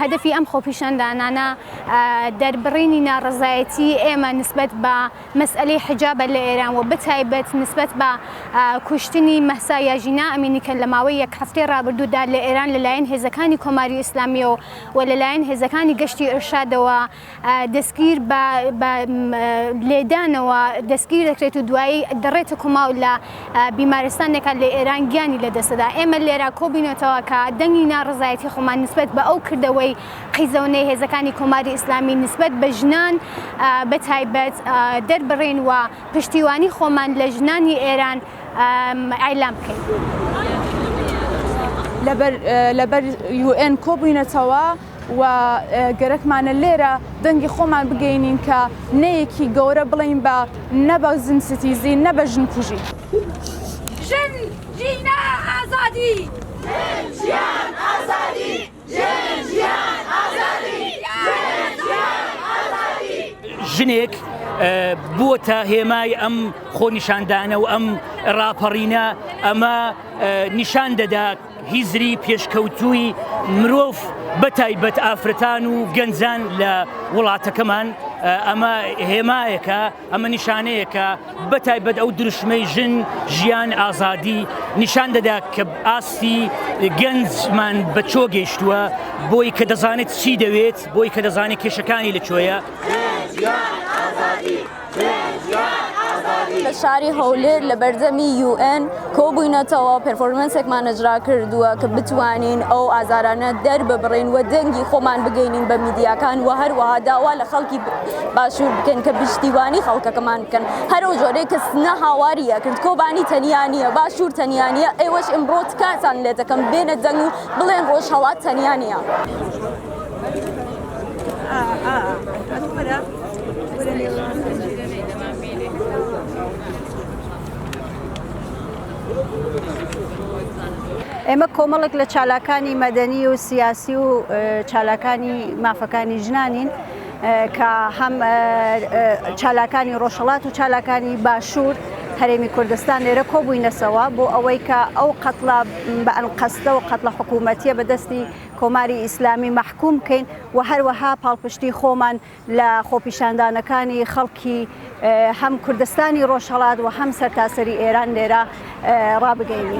هەدەفی ئەم خۆپیشاندانانە دەربڕینی ناڕەزایەتیی ئێمە نسبەت بە مەسئەلەی حیجابە لە ئێران و بەتایبەت نسبەت بە کوشتنی مەهسا یا ژینا ئەمینی کە لە ماوەی یەک هەفتەی ڕابردوودا لە ئێران لەلایەن هێزەکانی کۆماری ئیسلامییەوە و لەلایەن هێزەکانی گەشتی ئیرشادەوە دەستگیر بە لێدانەوە دەستگیر دەکرێت و دوایی دەڕێتە کوما و لە بیمارستانێکا لە ئێران گیانی لەدەست دەدا. ئێمە لێرا کۆبووینەتەوە کە دەنگی ناڕەزایەتیی خۆمان نسبەت بە ئەو کردەوەی قیزەونەی هێزەکانی کۆماری ئیسلامی نسبەت بە ژنان بە تایبەت دەربڕین و پشتیوانی خۆمان لە ژنانی ئێران ئایلام بکەین. لەبەر یوئێن کۆبووینەتەوە و گەرەکمانە لێرە دەنگی خۆمان بگەینین کە نەیەکی گەورە بڵین بە نە بە زن ستیزی نە بە ژن کوژی. ژن ژینا ئازادی ژن ژیان ئازادی. ژنێک بووەتە هێمای ئەم خۆنیشاندانە و ئەم ڕاپەڕینە ئەمە نیشان دەدات هیزری پێشکەوتووی مرۆڤ بە تایبەت ئافرەتان و گەنجان لە وڵاتەکەمان ئەمە هێمایەکە ئەمە نیشانەیە کە بە تایبەت ئەو دروشمەی ژن، ژیان، ئازادی نیشان دەدا کە ئاستی گەنجمان بە چۆ گەیشتووە، بۆی کە دەزانێت چی دەوێت، بۆی کە دەزانێت کێشەکانی لە کوێیە. لە شاری هەولێر لە بەردەمی یوئێن، کۆبووینەتەوە، پێرفۆرمەنسێکمان نەجرا کردووە کە بتوانین ئەو ئازارانە دەرببڕین و دەنگی خۆمان بگەینین بە میدیاکان و هەروەها داوا لە خەڵکی باشوور بکەین کە پشتیوانی خەڵکەکەمان بکەن هەر ئەو جۆرەی کە سنە هاواری ئەکرد کۆبانی تەنیا نییە، باشوور تەنیا نییە، ئێوەش ئیمڕۆ تکاتان لێ دەکەم بێنە دەنگ و بڵێن ڕۆژهەڵات تەنیا نییە. ئێمە کۆمەڵێک لە چالاکانی مەدەنی و سیاسی و چالاکانی مافەکانی ژنانین کە هەم چالاکانی ڕۆژهڵات و چالاکانی باشوور هەرێمی کوردستان لێرە کۆبووینەسەوە بۆ ئەوەی کە ئەو قەتڵە بە ئەنقەستە و قەتڵە حکوومەتیە بەدەستی کۆماری ئیسلامی مەحکوم بکەین و هەروەها پاڵپشتی خۆمان لە خۆپیشاندانەکانی خەڵکی هەم کوردستانی ڕۆژهەڵات و هەم سەرتاسەری ئێران لێرە ڕابگەینی.